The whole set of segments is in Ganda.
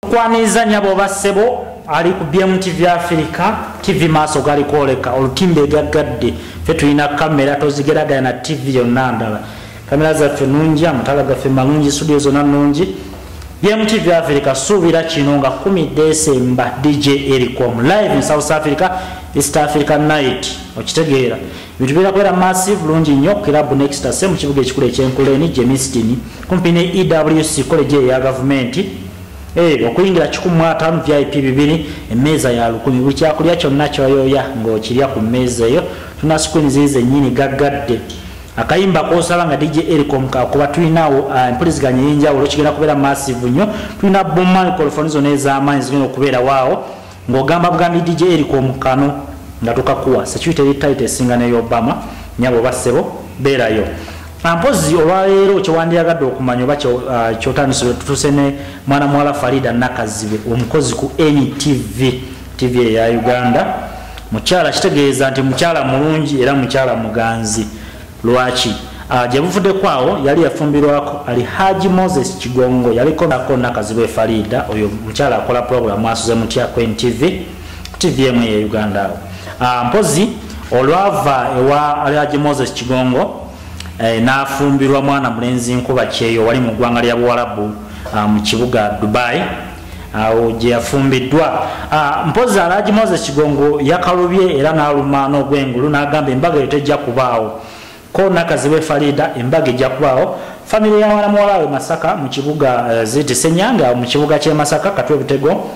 kwaniriza nyabo oba ssebo ali ku bm tv africa tv maaso gali kwoleka olutimba egaggadde fe tulina kamera tozigeragaya na tv yonna ndala kamera zaffe nungi amatala gaffe malungi studio zona nungi bm tv africa suubira kino nga 1 desemba dj erikom live in south africa east africa night okitegeera Ebintu bigenda kubeera massive bulungi nnyo ku kiraabu Next Ase mu kibuga ekikulu eky'Enkuleeni, Germiston, kumpi ne EWC koleji eyo eya gavumenti. Eh, okuyingira kikumi mu ataano vip bibiri, emmeeza ya lukumi. Buli kyakulya kyonna ky'oyooya ng'okirya ku mmeeza eyo. Tuna sikwini ziri zennyini gaggadde. Akayimba k'osaba nga DJ Ericom kakuba tulinawo ah, empuliziganya ey'enjawulo kigenda kubeera massive nnyo. Tulina boom microphone zonna ez'amaanyi zigenda okubeerawo awo. ng'ogamba bugambi dj eriko omukano nga tukakuwa security eri tight esinga neyo obama nyabo oba ssebo beerayo ampozi ah, olwaleero kyewandiyagadde okumanya oba ah, kyotandisibwe tutuse ne mwana muwala farida nakazibe omukozi ku ntv tv eya uganda mukyala kitegeeza nti mukyala mulungi era mukyala muganzi Lwaki? Ah, gye buvudeko awo yali yafumbirwako ali haji moses kigongo yaliko nako nakazibu efariida oyo mukyala akola puroguramu asuze mutya ku ntv ku tv emu eye uganda awo ah, mpozi olwava ewa ali haji moses kigongo eh, n'afumbirwa mwana mulenzi nkuba kyeyo wali mu ggwanga lya buwalabu ah, mu kibuga dubai awo gye yafumbiddwa ah, mpozi alaji moses kigongo yakalubye era n'aluma n'ogwengulu n'agamba embaga eyo tejja kubaawo ko nakazibe farida embaga ejja kubaawo famire ya mwana muwala we masaka mu kibuga eh, ziti senyanga mu kibuga ky'e masaka katwe butego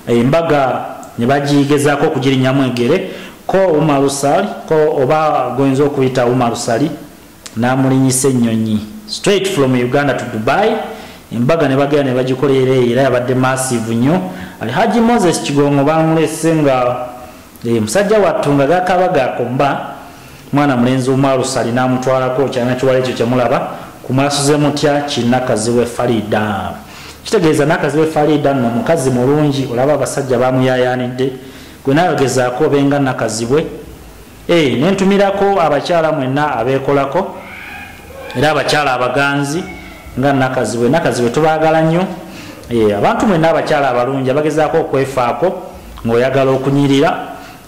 eh, embaga ne bagigezaako okugirinyamu egere ko umarusali ko oba goyinza okuyita umarusali n'amulinyisa ennyonyi straight from uganda to dubai embaga ne bagenda ne bagikolera eyo era yabadde massive nnyo alhaji moses kigongo baamulese nga eh, musajja wattu nga gakabaga akomba mwana mulenzi omwalusa alina amutwalako kyana kiwala ekyo kyemulaba kumwasuze mutya kinakaziwe farida kitegeeza nakaziwe farida no mukazi mulungi olaba abasajja bamuyayanidde gwe nayogezaako obenga nakazibwe Hey, eh, nentumirako abakyala mwenna abeekolako era abakyala abaganzi nga nakazibwe nakazibwe tubaagala nnyo eh, abantu mwenna abakyala abalungi abagezaako okwefaako ng'oyagala okunyirira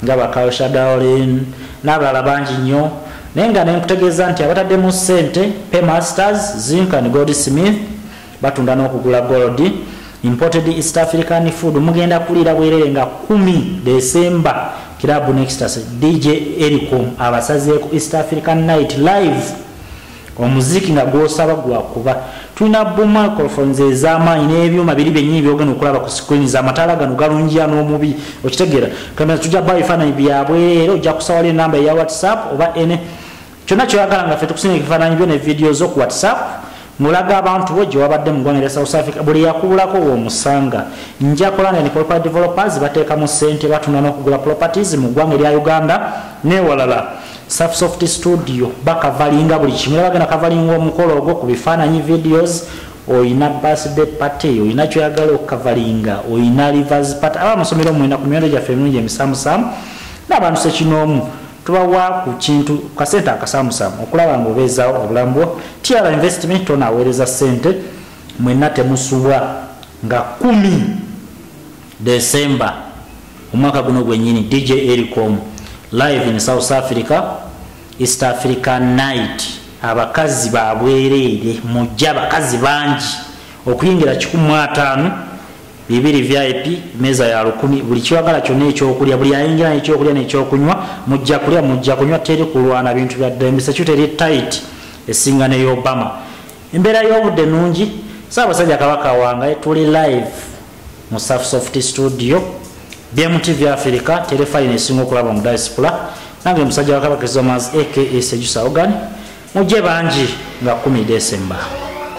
nga bakaoshadaolin n'abalala bangi nnyo naye nga nenkutegeeza nti abataddemu ssente paymasters zinkan gold smith batunda n'okugula gold imported east african food mugenda kuliira bwerere nga kumi desemba club nextas dj ericom abasazeeko east african night live omuziki nga gwosaba gwakuba tulina bumacolfons ezamaanyi n'ebyuma biri byennyini byogenda okulaba ku screen zamataala gano galungiya n'omubi okitegeera kamera tujja bawo ebifaananyi byabwerere ojja kusawala enamba eya whatsapp oba ene kyonna kyoyagala nga fe tukusinga ekifaananyi byo ne vidiyo zo ku whatsapp ngolaga abantu bo gye wabadde mu ggwanga lya south africa buli yakubulako womusanga njakola nene property developers bateekamu ssente batunda n'okugula properties mu ggwanga erya uganda newalala safsoft studio bakavalinga buli kimu era bagenda kavalinga omukolo ogwo ku bifaananyi videos oyina birthday party oyina kyoyagala okukavalinga oyina rivers party aba amasomero mwena ku miwendo gyaffe emirungi emisamusamu n'abantu sekinoomu tubawa ku kintu kasente akasamusamu okulaba nga obeezaawo obulamu bwo tiara investment tonaweereza sente mwenna temusubwa nga kumi desemba omwaka guno gwenyini dj ericom live in south africa east africa night abakazi babwereere mujja abakazi bangi okuyingira 15 bibiri vip meeza ya lukumi buli kiwagala kyonna ekyokulya buli ayingira nekyokulya nekyokunywa mujja kulya mujja kunywa teri kulwana bintu byadda emisecute eri tit esinga ne obama embeera y'obudde nungi saabasajja kabaka wange tuli live mu safsoft studio bmtv africa terefayina esinga okulaba mu diaspora nange musajja wakabaka ezomas aka sejusa ogan mujje bangi nga 1 december